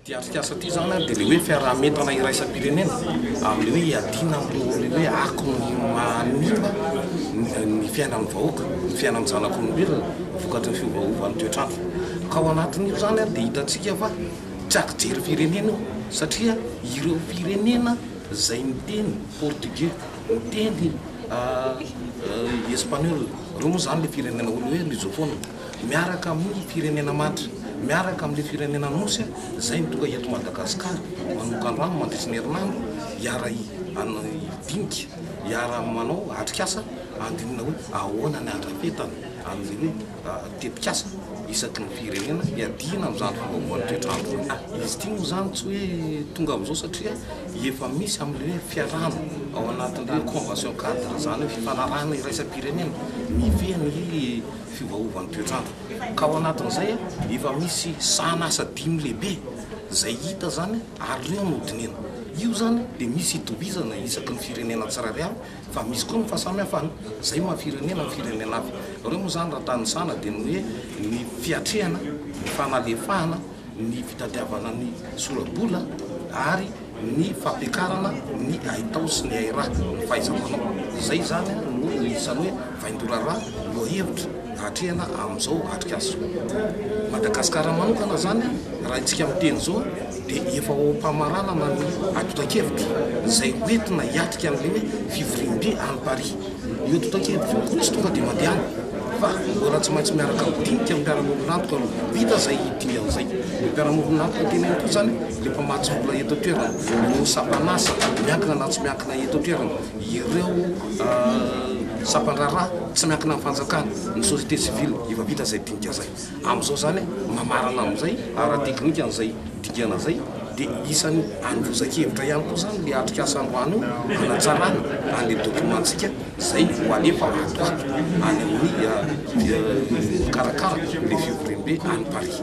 Ity atrikasa ity izany ary dia ilay hoe fiaraha-mientana iraisam-pirenena amin'ny hoe hiadiana amin'ireo hoe akon'ny manimba ny fiainan'ny vahoaka, ny fiainan'ny zanak'olombelona vokatry ny fiovaovan'ny toetr'andro. Ka ao anatin'io izany ary dia hitantsika fa Tsy azo jery firenena io satria ireo firenena izay miteny portugais, miteny espaniola, ireo moa izany ilay firenena hoe hoe lusofona, miaraka amin'ny firenena matra, miaraka amin'ilay firenena Anosy izay mitovy eto Madagasikara, manokana rano mandritry ny herinandro hiara hidinika, hiara manao atrikasa handinina hoe ahoana ny andrafetana an'ilay hoe. tetikasa isaky ny firenena hiadiana amin'izany fandoavana toetr'andro izany. Ah, izy ity moa izany tsy hoe tonga amin'izao satria efa misy amin'ilay hoe fiarahana ao anatin'ilay hoe convention cadre izany hoe fifanarahana iraisam-pirenena mifehy ny fiovaovan'ny toetr'andro. Ka ao anatin'izay efa misy sahan'asa dimy lehibe izay hita izany ary ireo no dinihina. Io izany dia misy itovizana isaky ny firenena tsirairay avy. Fa misy koa ny fahasamihafana. Izay maha firenena ny firenena hafa. Nareo moa izany raha tanisana dia ny hoe ny fiatrehana, ny fanalefahana, ny fitadiavana ny sora-bola ary ny fampiakarana ny haitao sy ny hairaha, ny fahaiza-manao. Izay izany no isan'ny hoe. Vaindorara lohahevitra atrehina amin'izao atrikasa Madagasikara manokana izany raha isika miteny izao dia efa ao am-pamaranana ny atotan-kevitra izay hoentina hiatrika an'ilay hoe fivoriambe any Paris. Io atotan-kevitra io koa tsy tonga dia mandehana fa mbola tsy maintsy miaraka amin'ny dinika ny mpiara-miombon'antoka aloha. Vita izay dingana izay, ny mpiara-miombon'antoka teny ihany koa izany dia mpamatsy vola eto an-toerana, ny sampan'asa miankina na tsy miankina eto an-toerana. ireo sampan-draharaha tsy miankina amin'ny fanjakana, ny société civile, efa vita izay dinika izay. Amin'izao izany, mamarana amin'izay ara-teknika an'izay dingana izay, dia isan'ny androzan-kevitra ihany koa izany ilay atrikasa androany io hanatsarana an'ilay document-ntsika izay ho alefa ato ho ato any amin'ny mikarakara ilay fivoriambe any Paris.